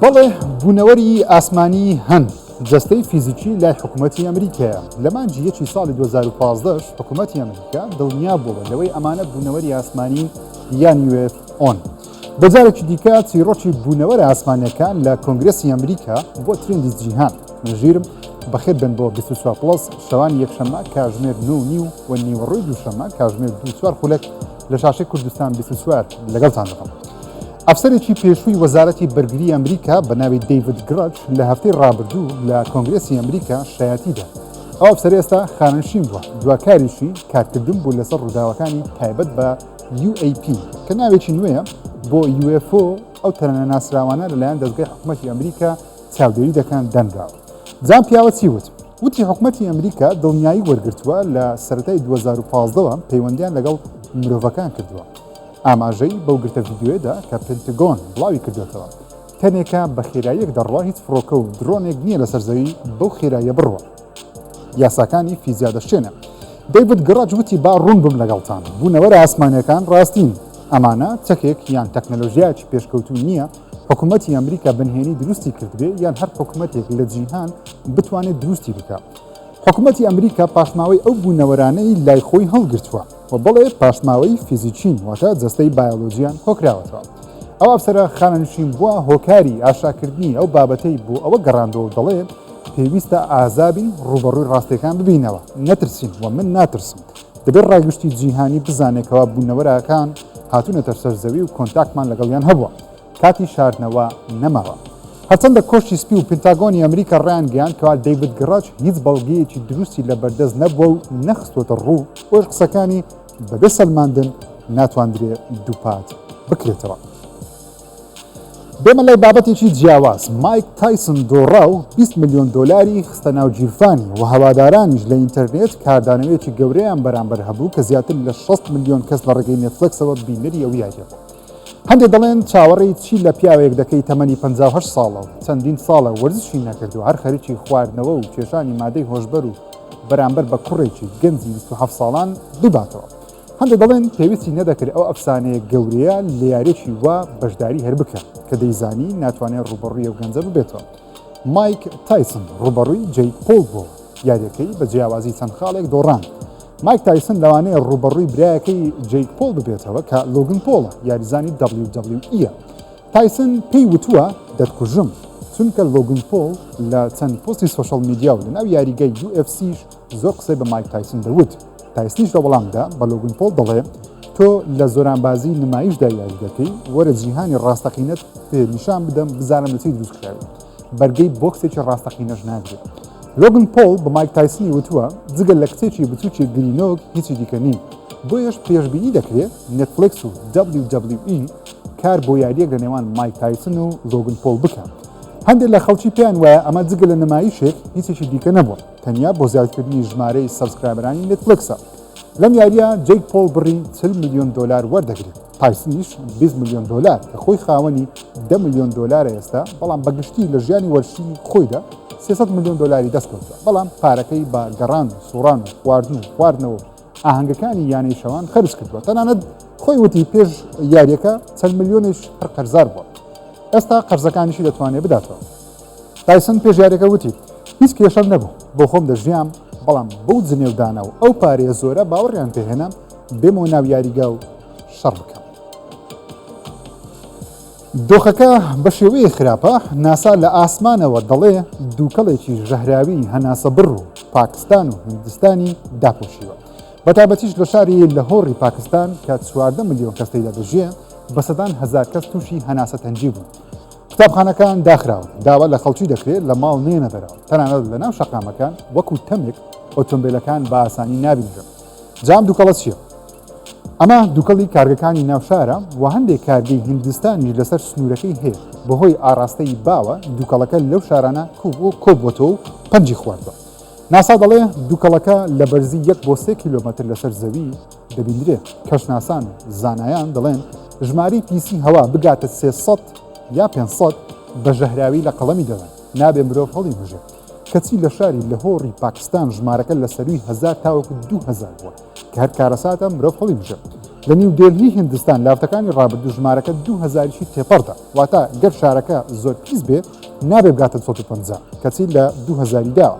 بەڵێ بوونەوەری ئاسمانی هەن جەستەی فیزیکی لای حکوومەتتی ئەمریکایە لە مانجی یەکی ساڵی 2015 حکوومەتتی ئەمریکا دڵنیا بووە لەوەی ئەمانە بوونەوەری ئاسمانی یان وێت ئۆن بەجارێکی دیکە چیرۆکی بوونەوەر ئاسمانەکان لە کۆنگرسی ئەمریکا بۆ ترندی جیهان ژیرم بەخێت بن بۆ 24 پلس شەوانی یەکشەممە کاژمێر نو نیو و نیوەڕۆی دووشەممە کاژمێر دو چوار خولەک لە شاشەی کوردستان بیست و چوار لەگەڵتان دەبم. ئەفسەرێکی پێشووی وەزارەتی بەرگری ئەمریکا بە ناوی دەیڤد گڕچ لە هەفتەی ڕابردوو لە کۆنگرێسی ئەمریکا شایەتی دا. ئەو ئەفسەرە ئێستا خانەنشین بووە، دوا کاریشی کارکردن بوو لەسەر ڕووداوەکانی تایبەت بە UAP، کە ناوێکی نوێیە بۆ UFO، ئەو تەرانە ناسراوانە لەلایەن دەزگای حکومەتی ئەمریکا چاودێری دەکەن دەنراوە. بزانە پیاوە چی وت. وتی حکومەتی ئەمریکا دڵنیایی وەرگرتووە لە سەرەتای دوو هەزار و پازدە وە پەیوەندیان لەگەڵ مرۆڤەکان کردووە. ئاماژەی بەو گرتە ڤیدیۆیەدا کە پنتگۆن بڵاوی کردووەتەوە، تەنێکە بە خێراییەک دەڕوا هیچ فڕۆکە و درۆنێک نییە لەسەر زەوی بەو خێراییە بڕوا. یاساکانی فیزیا دەشکێنێ. دەیڤد گڕەج وتی با ڕوون بم لەگەڵتان، بوونەوەرە ئاسمانییەکان ڕاستین، ئەمانە چەکێک یان تەکنەلۆژیایەکی پێشکەوتوو نییە، حکومەتی ئەمریکا بنهێنی دروستی کردبێ یان هەر حکومەتێک لە جیهان بتوانێت دروستی بکە حکومەتی ئەمریکا پاشماوەی ئەو بوونەوەرانەی لای خۆی هەڵگرتووە و بەڵێ پاشماوەی فیزیکین واتە جەستەی بایۆلۆجییان کۆکراوەتەوە ئەو ئەفسەرە خانەنشین بووە هۆکاری ئاشاکردنی ئەو بابەتەی بۆ ئەوە گەڕاندەوە دەڵێ پێویستە ئازابین ڕوبەڕووی ڕاستەکان ببینەوە نەترسین و من ناترسم دەبێت ڕای گشتی جیهانی بزانێت کەوا بوونەوەراکان هاتوونەتە سەر زەوی و کۆنتاکمان لەگەڵیان هەبووە کاتی شاردنەوە نەماوە هەرچەندە کۆشتی سپی و پنتاگۆنی ئەمریکا ڕیان گەیان کەوا دەیبت گڕاج هیچ بەڵگەیەکی دروستی لە بەردەست نەبووە و نەخستوەتە ڕوو ئۆش قسەکانی بەبێ سەلماندن ناتواندرێ دووپات بکرێتەوە. بێمە لای بابەتێکی جیاواز مایک تایسن دۆڕا و 20 ملیۆن دۆلاری خستە ناو گیرفانی و هەوادارانیش لە ئینتەرنێت کاردانەوەیەکی گەورەیان بەرامبەر هەبوو کە زیاتر لە 6 ملیۆن کەس لە ڕێگەی نێتفلکسەوە بینەری ئەو یاریە بوو هەندێک دەڵێن چاوەڕێی چی لە پیاوێک دەکەی تەمەنی 58 ساڵە و چەندین ساڵە وەرزشی نەکرد و هەر خەریکی خواردنەوە و کێشانی مادەی هۆشبەر و بەرامبەر بە کوڕێکی گەنجی 27 ساڵان بباتەوە هەندێک دەڵێن پێویستی نەدەکرد ئەو ئەفسانەیە گەورەیە لە یاریەکی وا بەشداری هەر بکە کە دەیزانی ناتوانێت ڕوبەڕوی ئەو گەنجە ببێتەوە مایک تایسن ڕوبەڕوی جەی پۆل بۆ یاریەکەی بە جیاوازی چەند خاڵێک دۆڕان مایک تایسن لەوانەیە ڕوبەڕوی برایەکەی جەی پۆل ببێتەوە کە لۆگن پۆڵە یاریزانی WWE تایسن پێی وتووە دەتکوژم چونکە لۆگن پۆل لە چەند پۆستی سوۆشەڵ میدیا و لە ناو یاریگەی UFC زۆر قسەی بە مایک تایسن دەوت، تایسنیش لە وەڵامدا بە لۆگن پۆڵ دەڵێ، تۆ لە زۆرانبازی نمایشدا یاری دەکەی، وەرە جیهانی ڕاستەقینەت پێ نیشان بدەم بزانم لە چی دروست کراوی، بەرگەی بۆکسێکی ڕاستەقینەش ناگرێ. لۆگن پۆڵ بە مایک تایسنی وتووە، جگە لە کچێکی بچووکی گرینۆک هیچی دیکە نیم، بۆیەش پێشبینی دەکرێ نێتفڵێکس و WWE کار بۆ یارییەک لە نێوان مایک تایسن و لۆگن پۆڵ بکا. هەندێک لە خەڵکی پێیان وایە ئەمە جگە لە نمایشێک هیچێکی دیکە نەبووە. تەنیا بۆ زیادکردنی ژمارەی سەبسکرایبەرانی نێتفلکسە لەم یاریە جەیک پۆڵ بڕی 40 میلیۆن دلار وەردەگرێت تایسنیش 20 میلیۆن دلار کە خۆی خاوەنی 10 میلیۆن دلار ئێستا بەڵام بەگشتی لە ژیانی وەرشی خۆیدا 300 میلیۆن دلاری دەستکەوتە بەڵام پارەکەی بە گەڕان و سوڕان و خواردن و خواردنەوە ئاهەنگەکانی یانەی شەوان خەرج کردووە تەنانەت خۆی وتی پێش یاریەکە چەند میلیۆنیش هەر قەرزار بووە ئێستا قەرزەکانیشی دەتوانێت بداتەوە تایسن پێش یاریەکە وتی هیچ کێشەم نەبوو بۆ خۆم دەژیام، بەڵام بەو جنێودانە و ئەو پارەیە زۆرە باوەڕیان پێ هێنام بێمەوە ناو یاریگا و شەڕ بکەم. دۆخەکە بە شێوەیە خراپە ناسا لە ئاسمانەوە دەڵێ دووکەڵێکی ژەهراوی هەناسە بڕ و پاکستان و هندستانی داپۆشیوە. بەتابەتیش لە شاری لە هۆڕی پاکستان کە چواردە ملیۆن کەستەیدا دەژێ بە سەدان هەزار کەس تووشی هەناسە تەنجی بوون. قوتابخانەکان داخراون، داوا لە خەڵکی دەکرێت لە ماڵ نێنە دەرەوە، تەنانەت لە ناو شەقامەکان وەکو تەمێک ئۆتۆمبێلەکان بە ئاسانی نابینرن. جا ئەم دوکەڵە چییە؟ ئەمە دوکەڵی کارگەکانی ناو شارە و هەندێک کارگەی هیندستانیش لەسەر سنوورەکەی هەیە، بەهۆی ئاڕاستەی باوە دوکەڵەکە لەو شارانە کۆبووەتەوە و پەنجی خواردووە. ناسا دەڵێ دوکەڵەکە لە بەرزی یەک بۆ سێ کیلۆمەتر لەسەر زەوی، دەبیندرێت کەشناسان و زانایان دەڵێن ژمارەی پیسی هەوا بگاتە سێ سەد یا پێنج سەد بە ژەهراوی لە قەڵەمی دەدەن نابێ مرۆڤ هەڵیبژێت کەچی لە شاری لەهۆڕی پاکستان ژمارەکە لە سەروی هەزار تاوەکو دوو هەزار بووە کە هەر کارەساتە مرۆڤ هەڵیبژێت لە نیو دێلهی هندستان لاوتەکانی ڕابردوو ژمارەکە دوو هەزاریشی تێپەڕدا واتە گەر شارەکە زۆر پیس بێ نابێ بگاتە 150 کەچی لە دوو هەزاری داوە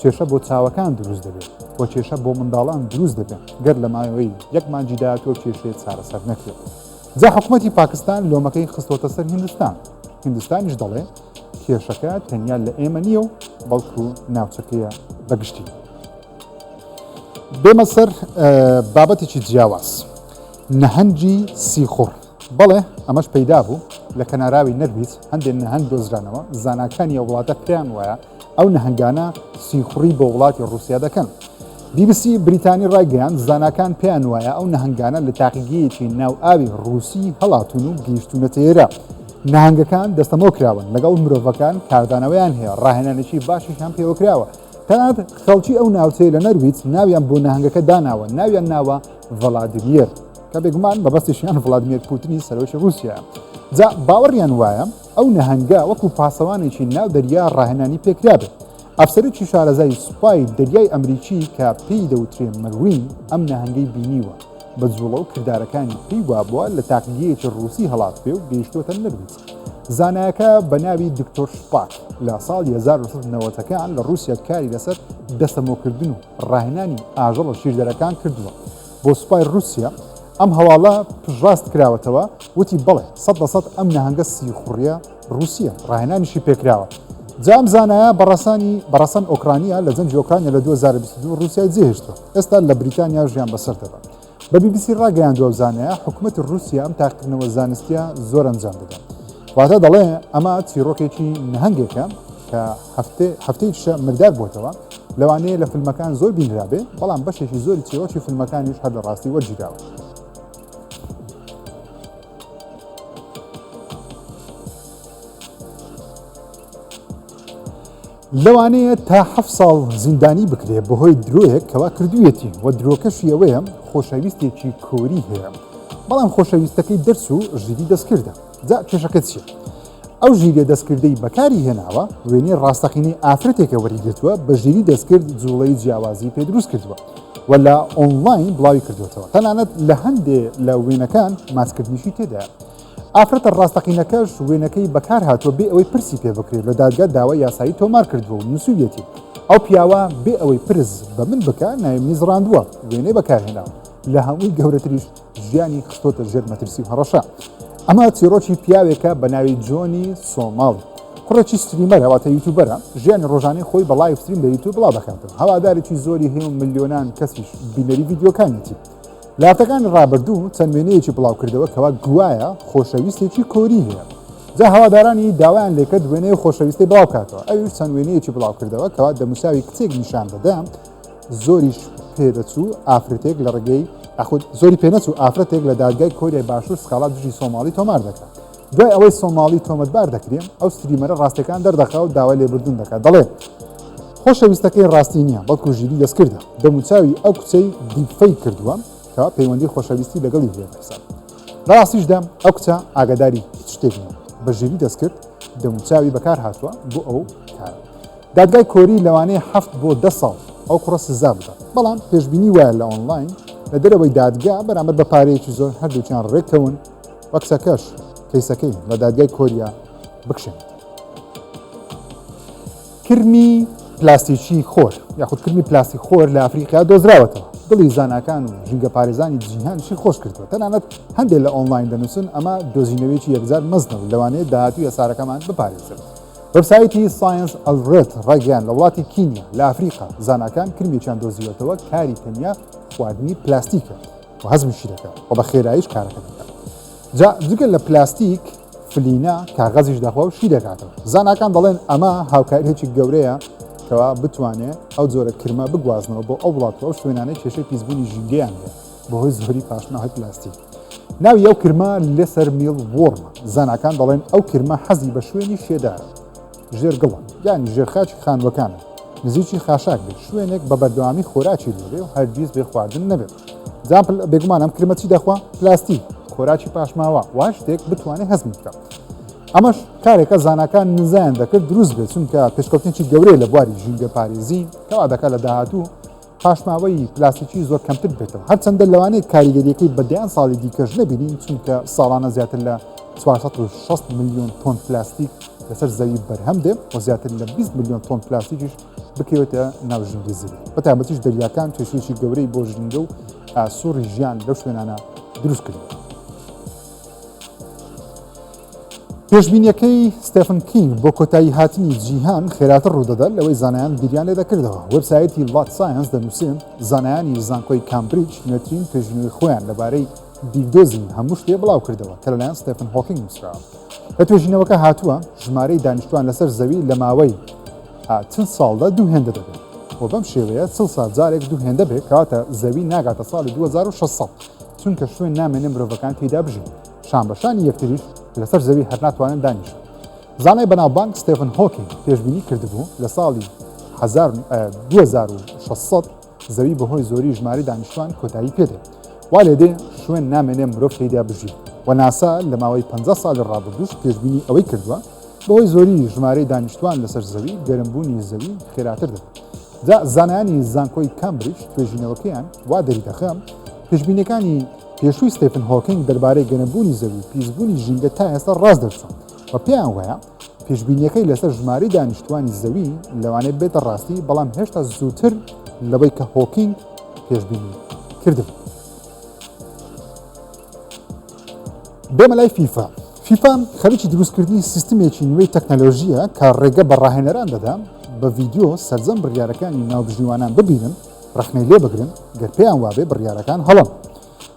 کێشە بۆ چاوەکان دروست دەبێت و کێشە بۆ منداڵان دروست دەبێت گەر لە ماوەی یەک مانجی داهاتوو کێشەیە چارەسەر نەکرێت جا حکوومەتی پاکستان لۆمەکەی خستۆتە سەر هندستان هندستانیش دەڵێ کێشەکە تەنیا لە ئێمە نییە و بەڵکو ناوچەکەیە بەگشتی بێمە سەر بابەتێکی جیاواز نەهەنگی سیخوڕ بەڵێ ئەمەش پەیدا بوو، لە کەناراوی نەرویج هەندێ نەهەنگ دۆزرانەوە، زاناکانی ئەو وڵاتە پێیان وایە ئەو نەهەنگانە سیخوڕی بۆ وڵاتی ڕووسیا دەکەن. بی بی سی بریتانی ڕایگەیاند، زاناکان پێیان وایە ئەو نەهەنگانە لە تاقیگەیەکی ناو ئاوی ڕووسی هەڵاتوون و گەیشتوونەتە ئێرە. نەهەنگەکان دەستەمۆ کراون، لەگەڵ مرۆڤەکان کاردانەوەیان هەیە، ڕاهێنانێکی باشیشیان پێوە کراوە، تەنانەت خەڵکی ئەو ناوچەیە لە نەرویج ناویان بۆ نەهەنگەکە داناوە، ناویان ناوە، ڤلادیمیر کە بێگومان مەبەستیشیان ڤلادیمیر پوتنی سەرۆکی رووسیایە جا باوەڕیان وایە ئەو نەهەنگە وەکو پاسەوانێکی ناو دەریا ڕاهێنانی پێکرابێت ئەفسەرێکی شارەزای سوپای دەریای ئەمریکی کە پێی دەوترێن مەروین ئەم نەهەنگەی بینیوە بە جوڵە و کردارەکانی پێی وابووە لە تاقیگەیەکی ڕووسی هەڵات پێ و گەیشتوتە نەرویج زانایەکە بە ناوی دکتۆر شپاک لە ساڵی 1990ەکان لە رووسیا کاری لەسەر دەسەمۆکردن و ڕاهێنانی ئاژەڵە ژیردەرەکان کردووە بۆ سوپای ڕووسیا، ئەم هەواڵە پشتڕاست کراوەتەوە، وتی بەڵێ سەد لە سەد ئەم نەهەنگە سیخوڕییە ڕووسییە، ڕاهێنانیشی پێکراوە. جا ئەم زانایە بە ڕەسەنی بە ڕەسەن ئۆکرانیا لە جەنگی ئۆکرانیا لە دوو هەزار و بیست و دوو ڕووسیای جێهێشتووە، ئێستا لە بریتانیا ژیان بەسەر دەبات. بە بی بی سی ڕاگەیاندوە زانایە حکومەتی ڕوسیا ئەم تاقکردنەوە زانستیە زۆر ئەنجام دەدەن واتە دەڵێ ئەمە چیرۆکێکی نهنگێکە کە هەفتەی شە مردار بۆتەوە لەوانەیە لە فیلمەکان زۆر بینرابێ بەڵام بەشێکی زۆری چیرۆکی فیلمەکانیش هەر لە ڕاستی وەرگیراوە. لەوانەیە تا حەفت ساڵ زیندانی بکرێت بەهۆی درۆیەک کەوا کردوویەتی و درۆکەشی ئەوەیە خۆشەویستێکی کۆری هەیە بەڵام خۆشەویستەکەی دەرچوو و ژیری دەستکردە جا کێشەکە چییە؟ ئەو ژیریە دەستکردەی بەکاری هێناوە وێنەی ڕاستەقینەی ئافرەتێکە وەریگرتووە بە ژیری دەستکرد جوڵەی جیاوازی پێ دروست کردووە و لە ئۆنڵاین بڵاوی کردوێتەوە تەنانەت لە هەندێ لە وێنەکان ماچکردنیشی تێدایە ئافرەتە ڕاستەقینەکەش وێنەکەی بەکارهاتووە بێ ئەوەی پرسی پێ بکرێت، لە دادگا داوای یاسایی تۆمار کردووە و نووسیویەتی، ئەو پیاوە بێ ئەوەی پرس بە من بکا ناویمنی زڕاندووە، وێنەی بەکارهێناوە، لە هەمووی گەورەتریش ژیانی خستۆتە ژێر مەترسی و هەڕەشە. ئەمە چیڕۆکی پیاوێکە بە ناوی جۆنی سۆماڵ، کوڕێکی ستریمەرە واتە یوتوبەرە، ژیانی ڕۆژانەی خۆی بە ڵایڤ ستریم لە یوتوب بڵاو دەکاتەوە، هەوادارێکی زۆری هەیە و ملیۆنان کەسیش بینەری ڤیدیۆکانیەتی. لە هەفتەکانی ڕابردوو چەند وێنەیەکی بڵاوکردەوە کەوا گوایە خۆشەویستێکی کۆری هەیە جا هەوادارانی داوایان لێکرد وێنەیە خۆشەویستی بڵاوکاتەوە ئەویش چەند وێنەیەکی بڵاوکردەوە کەوا دەموساوی کچێک نیشان دەدا زۆریش پێدەچوو ئافرەتێک لە ڕێگەی ئەخود زۆری پێنەچوو ئافرەتێک لە دادگای کۆریای باشوور سکاڵا دژی سۆماڵی تۆمار دەکات دوای ئەوەی سۆماڵی تۆمەتبار دەکرێ، ئەو ستریمەرە ڕاستیەکان دەردەخا و داوای لێبوردن دەکات دەڵێ، خۆشەویستەکەی ڕاستی نییە، بەڵکو ژیریی دەستکردە، دەموچاوی ئەو کچەی دیپفەیک کردووە کە پەیوەندی خۆشەویستی لەگەڵی هەیە بەحساب. لە ڕاستیشدا ئەو کچە ئاگاداری هیچ شتێک نییە، بە ژیریی دەستکرد دەموچاوی بەکارهاتووە بۆ ئەو کارە. دادگای کۆری لەوانەیە حەفت بۆ دە ساڵ ئەو کوڕە سزا بدات، بەڵام پێشبینی وایە لە ئۆنلاین لە دەرەوەی دادگا بەرامبەر بە پارەیەکی زۆر هەردووکیان ڕێککەون، و کچەکەش کەیسەکەی لە دادگای کۆریا بکشێنێت. کرمی پلاستیکی خۆر یاخود کرمی پلاستی خۆر لە ئەفریقیا دۆزراوەتەوە دڵی زانکان و ژینگە پارێزانی جیهانشی خۆش کردووە تەنانەت هەندێک لە ئۆنلاین دەنووسن ئەمە دۆزینەوەیەکی یەکجار مەزنە و لەوانەیە داهاتوو یەسارەکەمان بپارێزن وەبسایتی ساینس ئەلرێت ڕێگەیان لە وڵاتی کینیا لە ئەفریقا زانکان کرمێکیان دۆزیوەتەوە کاری تەنیا خواردنی پلاستیکە و هەزمیشی دەکات و بە خێراییش کارەکە دەکات جا جگە لە پلاستیک فلینە کاغەزیش دەخوا و شی دەکاتەوە زاناکان دەڵێن ئەمە هاوکاریێکی گەورەیە کەوا بتوانێت ئەو جۆرە کرمە بگوازنەوە بۆ ئەو وڵات ئەو شوێنانەی کێشەی پیسبوونی ژینگەیان هەیە بەهۆی زۆری پاشناوی پلاستیک ناوی ئەو کرمە لەسەر میڵ وۆڕمە زاناکان دەڵێن ئەو کرمە حەزی بە شوێنی شێدارە ژێرگڵە یانی ژێرخاکی خانووەکانە، نزیکی خاشاک بێت، شوێنێک بە بەردەوامی خۆراکی لێبێ و هەرگیز بێ خواردن نەبێت. جا بێگومان ئەم کرمە چی دەخوا؟ پلاستیک، خۆراکی پاشماوە، وە شتێک بتوانێ هەزمی بکا. ئەمەش کارێکە زاناکان نزایان دەکرد دروست بێت، چونکە پێشکەوتنێکی گەورەیە لە بواری ژینگەپارێزی، کە وادەکا لە داهاتوو پاشماوەی پلاستیکی زۆر کەمتر بێتەوە هەرچەندە لەوانەیە کاریگەریەکەی بە دەیان ساڵی دیکەش نەبینین چونکە ساڵانە زیاتر لە 460 میلیۆن تۆن پلاستیک لەسەر زەوی بەرهەم دێ و زیاتر لە 20 میلیۆن تۆن پلاستیکیش بکەوێتە ناو ژینگی زەوی بەتابەتیش دەریاکان کێشێکی گەورەی بۆ ژینگە و سوڕی ژیان لەو شوێنانە دروستکرد. پێشبینیەکەی ستفن کینگ بۆ کۆتایی هاتنی جیهان خێراتر ڕوودەدات لەوەی زانایان بیریان لێ دەکردەوە وەبسایەتی لات ساینس دەنووسێن زانایانی زانکۆی کامبریج نوێترین پێشبینی خۆیان لەبارەی بیردۆزی هەموو شتێ بڵاو کردەوە کە لەلایەن ستفن هۆکینگ نووسراوە لە توێژینەوەکە هاتووە ژمارەی دانیشتوان لەسەر زەوی لە ماوەی چل ساڵدا دوو هێندە دەبێت و بەم شێوەیە سڵ ساجارێک دوو هێندە بێت کاتە زەوی ناگاتە ساڵی 2006 چونکە شوێن نامێنێ مرۆڤەکان تێیدا بژین، شانبەشانی یەکتریش لەسەر زەوی هەر ناتوانن دانیشن. زانای بەناوبانگ ستێفن هۆکینگ پێشبینی کردبوو لە ساڵی 2600 زەوی بەهۆی زۆری ژمارەی دانیشتوان کۆتایی پێدێت وا لێدێ شوێن نامێنێ مرۆڤ تێیدا بژی و ناسا لە ماوەی 50 ساڵی ڕابردووش پێشبینی ئەوەی کردووە بەهۆی زۆری ژمارەی دانیشتوان لەسەر زەوی گەرمبوونی زەوی خێراتر دەبێت جا زانایانی زانکۆی کامبریج توێژینەوەکەیان وا دەریدەخەم پێشبینەکانی پێشووی ستێفن هۆکینگ دەربارەی گەنەبوونی زەوی و پیسبوونی ژینگە تا ئێستا ڕاست دەرچوون و پێیان وایە پێشبینیەکەی لەسەر ژماری دانیشتوانی زەوی لەوانێت بێتە ڕاستی بەڵام هێشتا زووتر لەوەی کە هۆکینگ پێشبینی کردبوو بێمە لای فیفا فیفا خەریکی دروستکردنی سیستمێکی نوێی تەکنەلۆژییە کە ڕێگە بە ڕاهێنەران دەدا بە ڤیدیۆ سەرجەم بڕیارەکانی ناوبژیوانان ببینن ڕەخنەی لێ بگرن گەر پێیان وابێ بڕیارەکان هەڵن.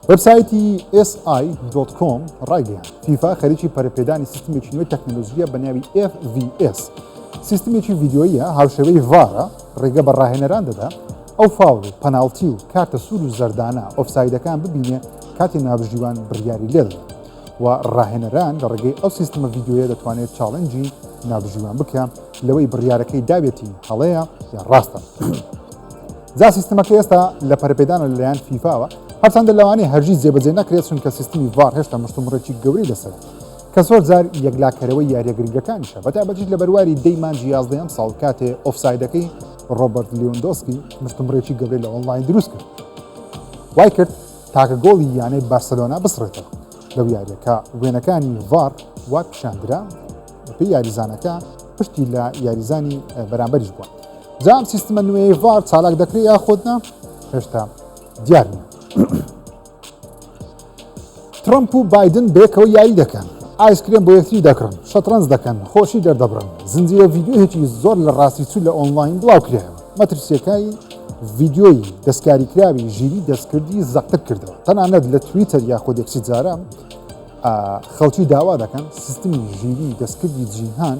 وەبسایتی SI.com ڕایگەیان فیفا خەریکی پەرپێدانی سیستمێکی نوێی تەکنەلۆژیە بە ناوی FVS سیستمێکی ڤیددیویە هاوشێوەی ڤارە ڕێگە بە ڕاهێنەران دەدا ئەو فاول و پەناڵتی و کارتە سوور و زەردانە ئۆفسایدەکان ببینێ کاتی نابژیوان بڕیاری لێدەدا و ڕاهێنەران لە ڕێگەی ئەو سیستمە ڤیدیۆیە دەتوانێت چاڵنجی نابژیوان بکە لەوەی بڕیارەکەی داوێتی هەڵەیە یا ڕاستە جا سیستمەکە ئێستا لە پەرپێدانە لەلایەن فیفاوە هەرچەندە لەوانەیە هەرگیز جێبەجێ نەکرێت چونکە سیستمی ڤار هێشتا مشتومڕێکی گەورەی لەسەر کە زۆر جار یەکلاکەرەوەی یاریە گرنگەکانیشە بەتابەتیش لە بەرواری دەی مانجی یازدەیەم ساڵ کاتێ ئۆفسایدەکەی ڕۆبرت لیۆندۆسکی مشتمڕێکی گەورەی لە ئۆنلاین دروست کرد وای کرد تاکە گۆڵی یانەی بارسێلۆنا بسڕێتەوە لەو یارییە کە وێنەکانی ڤار وا پیشاندرا بەپێی یاریزانەکە پشتی لە یاریزانی بەرامبەریش بووە جام سیستمە نوێی ڤار چالاک دەکرێت یا خۆتنا هێشتا دیار نیە ترمپ و بادن بێکەوە یاری دەکەن ئایسکرێن بۆ یەکتری دەکڕن شەترەنج دەکەن خۆشی دەردەبرن زنجیرە ڤیددیوهێکی زۆر لە ڕاستی چوو لە ئۆنلاین بڵاوکرێەوە مەترسیەکەی ڤیدیۆی دەستکاریکراوی ژیری دەستکردی زەقتر کردەوە تەنانەت لە تویتەر یاخۆدێکسی جارە خەڵکی داوا دەکەن سیستمی ژیری دەستکردی جیهان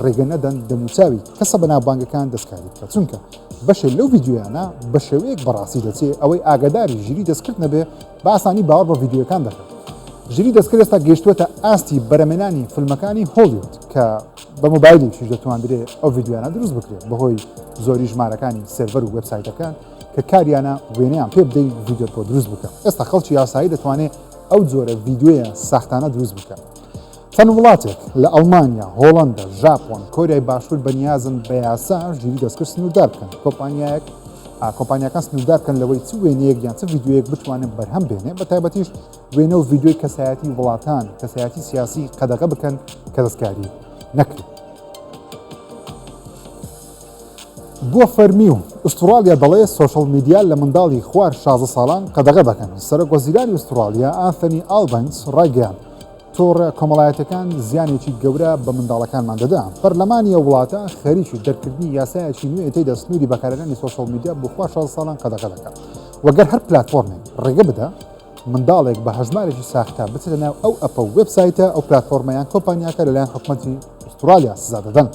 ڕێگە نەدەن دەموچاوی کەسە بەنابانگەکان دەستکاری بکە چونکە بەشێ لەو ڤیددیویانە بە شێوەیەک بەڕاستی دەچێت ئەوەی ئاگداری ژیری دەستکرد نەبێ بە ئاسانی باوەڕ بە ڤیدیۆکان دەکەن. ژیری دەستکرد ئێستا گەیشتووەتە ئاستی بەرەمێنانی فیلمەکانی هۆلیود کە بە مۆبایلیش دەتواندرێت ئەو ڤیدیۆیانە دروست بکرێت بەهۆی زۆری ژمارەکانی سێرڤەر و وێبسایتەکان کە کاریانە وێنەیان پێ بدەین ڤیدیۆ بۆ دروست بکە ئێستا خەڵکی یاسایی دەتوانێت ئەو جۆرە ڤیددیویان ساختانە دروست بکە چەند وڵاتێک لە ئەڵمانیا، هۆڵەندا، ژاپۆن، کۆریای باشوور بە نیازن بە یاسا ژیری دەستکرد سنووردار بکەن. کۆمپانیایەک کۆمپانیاکان سنووردار بکەن لەوەی چ وێنەیەک یان چ ڤیدیۆیەک بتوانن بەرهەم بێنێ بە تایبەتیش وێنە و ڤیدیۆی کەسایەتی وڵاتان کەسایەتی سیاسی قەدەغە بکەن کە دەستکاری نەکرێت. بۆ فەرمی و ئوستراالیا دەڵێ سوۆشل میدیا لە منداڵی خوار شازە ساڵان قەدەغە دەکەن سەرۆک وەزیرانی ئوستراالیا ئاثنی ئالبنس ڕایگەیان تۆڕە کۆمەڵایەتیەکان زیانێکی گەورە بە منداڵەکانمان دەدا پەرلەمانی ئەو وڵاتە خەریکی دەرکردنی یاسایەکی نوێ تێدا سنووری بەکارەکانی سۆشال میدیا بخوا 16 ساڵان قەدەغە دەکات وەگەر هەر پلتفۆرمێک ڕێگە بدا منداڵێک بە هەژمارێکی ساختە بچێتە ناو ئەو ئەپە و وبسایتە ئەو پلتفۆرمیان کۆمپانیاکە لەلایەن حکومەتی ئوسترالیا سزا دەدەن.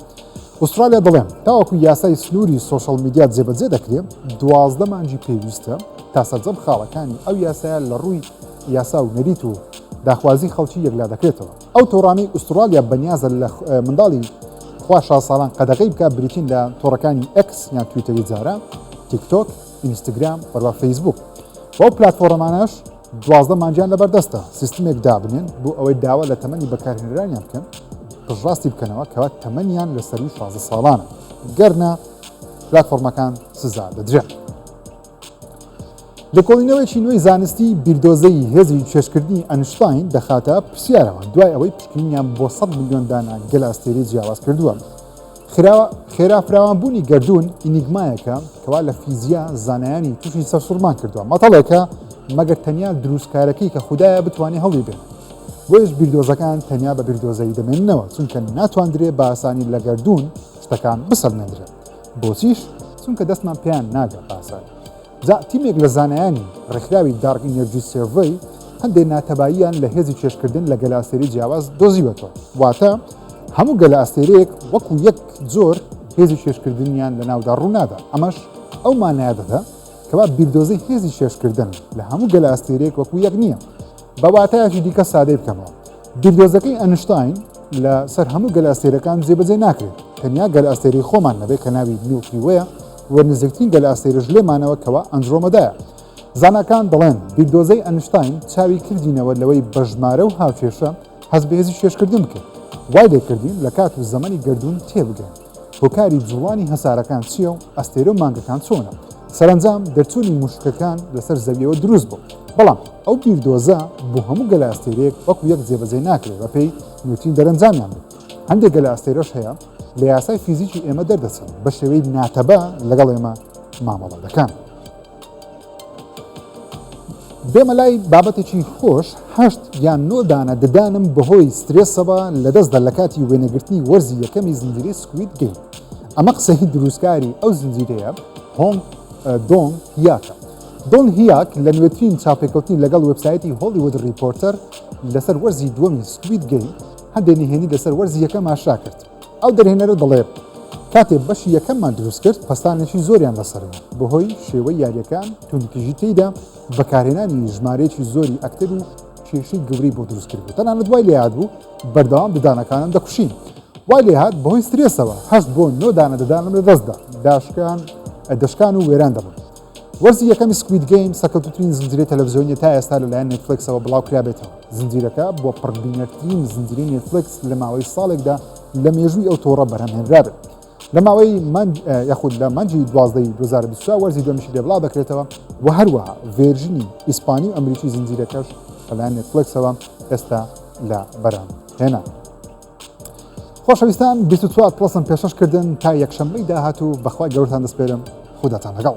ئوسترالیا دەڵێن تاوەکو یاسای سنووری سۆشال میدیا جێبەجێ دەکرێت دوازدە مانجی پێویستە تا سەرجەم خاڵەکانی ئەو یاسایە لە ڕووی یاسا و نەریت و داخوازی خەڵکی یەکلا دەکرێتەوە. ئەو تۆڕانەی ئوستڕاڵیا بەنیازە لە منداڵی خوا شاز ساڵان قەدەغەی بکات بریتین لە تۆڕەکانی ئێکس یان تویتەری جاران، تیک تۆک، ئینستگرام، هەروە فەیسبووک و ئەو پلاتفۆڕەمانەش دوازدە مانگیان لەبەردەستە سیستمێک دابنێن بۆ ئەوەی داوا لە تەمەنی بەکارهێنەرانیان بکەن پشتڕاستی بکەنەوە کەوا تەمەنیان لە سەروی شازدە ساڵانە گەرنا پلاتفۆڕمەکان سزا دەدرێن. لێکۆڵینەوەیەکی نوێی زانستی بیردۆزەیی هێزی چێژکردنی ئەنشتاین دەخاتە پرسیارەوە دوای ئەوەی پشکنینیان بۆ ١٠٠ ملیۆن دانە گەلە ئەستێرەی جیاواز کردووە خراوە خێرا فراوانبوونی گردوون ئینیگمایەکە کەوا لە فیزیا زانایانی تووشی سەرسوڕمان کردووە مەتەڵێکە مەگەر تەنیا دروستکارەکەی کە خوددایە بتوانێت هەڵی بێت بۆیش بیردۆزەکان تەنیا بە بیردۆزەی دەمێننەوە چونکە ناتواندرێ باسانی لە گردوون شتەکان بسەلمێندرێت بۆچیش؟ چونکە دەستمان پێیان ناگا پاساوی. جا تیمێک لە زانایانی ڕێکخراوی دارک ئینێرجی سێرڤەی هەندێ ناتەباییان لە هێزی کێشکردن لە گەلەئەستێرەی جیاواز دۆزیوەتەوە. واتە هەموو گەلەئەستێرەیەک وەکو یەک جۆر هێزی کێشکردنیان لە ناودا ڕوونادا. ئەمەش ئەو مانایە دەدا کەوا بیردۆزەی هێزی کێشکردن لە هەموو گەلەئەستێرەیەک وەکو یەک نییە. بە واتایەکی دیکە سادەی بکەمەوە بیردۆزەکەی ئەنشتاین لە سەر هەموو گەل ئەستێرەکان جێبەجێ ناکرێت تەنیا گەل ئەستێری خۆمان نەبێت کە ناوی میڵکی وەیە و نزیکترین گەل ئەستێرەش لێمانەوە کەوا ئەنجرۆمەدایە زاناکان دەڵێن بیردۆزەی ئەنشتاین چاوی کردینەوە لەوەی بەژمارە و هاوکێشە هەز بەهێزی شێشکردن بکرد وای لێکردین لە کات و زەمەنی گردردون تێبگەن هۆکاری جوڵانی هەسارەکان چییە و ئەستێرە و مانگەکان چۆنە؟ سەرەنجام دەرچوونی مووشکەکان لەسەر زەوییەوە دروست بوو، بەڵام ئەو بیردۆزە بۆ هەموو گەلەئەستێرەیەک وەکو یەک جێبەجێ ناکرێت بەپێی نیوتین دەرەنجامیان بێت. هەندێک گەلەئەستێرەش هەیە لە یاسای فیزیکی ئێمە دەردەچن، بەشێوەی ناتەبا لەگەڵ ئێمە مامەڵە دەکەن. بێمە لای بابەتێکی خۆش هەشت یان نۆ دانە ددانم بەهۆی سترێسەوە لەدەستدا لە کاتی وێنەگرتنی وەرزی یەکەمی زنجیری سکویت گەیم ئەمە قسەی دروستکاری ئەو زنجیرەیە هۆنگ دۆنگ هیاکە دۆن هیاک لە نوێترین چاپێکوتنی لەگەڵ وبسایەتی هۆلیوود ریپۆرتەر لەسەر وەرزی دووەمی سکویت گەیم هەندێک نهێنی لەسەر وەرزی یەکە ماشا کرد ئەو دەرهێنەرە دەڵێت، کاتێ بەشی یەکەممان دروست کرد پەستانێکی زۆریان لەسەر بوو بەهۆی شێوەی یاریەکان توندتیژی تێیدا بەکارهێنانی ژمارەیەکی زۆری ئەکتەر و کێشەی گەورەی بۆ دروست کرد بوو تەنانەت وای لێیاد بوو بەردەوام ددانەکانم دەکوشین وای لێهات بەهۆی سترێسەوە هەست بۆ نۆ دانە ددانم لە دەستدا داشکان دەشکان و وێران دەبوون وەرزی یەکەمی سکوید گەیم سەکەوتترین زنجیرەی تەلەڤزیۆنی تا ئێستا لەلایەن نێتفلکسەوە بڵاوکرابێتەوە زنجیرەکە بۆ پڕبینەرترین زنجیرەی نێتفلکس لە ماوەی ساڵێکدا لە مێژووی ئەو تۆڕە بەرهەمهێنرابێت لە ماوەی یاخود لە مانجی دوازدەی 2023 وەرزی دومیشی لێ بڵاو دەکرێتەوە و هەروەها ڤێرژنی ئیسپانی و ئەمریکی زنجیرەکەش لەلایەن نێتفلکسەوە ئێستا لە بەرهەم هێنا خۆشەویستان بیست و چوار پڵەسم پێشەش کردن تا یەکشەممەی داهاتوو بەخوای گەورتان دەسپێرم خوداتان لەگەڵ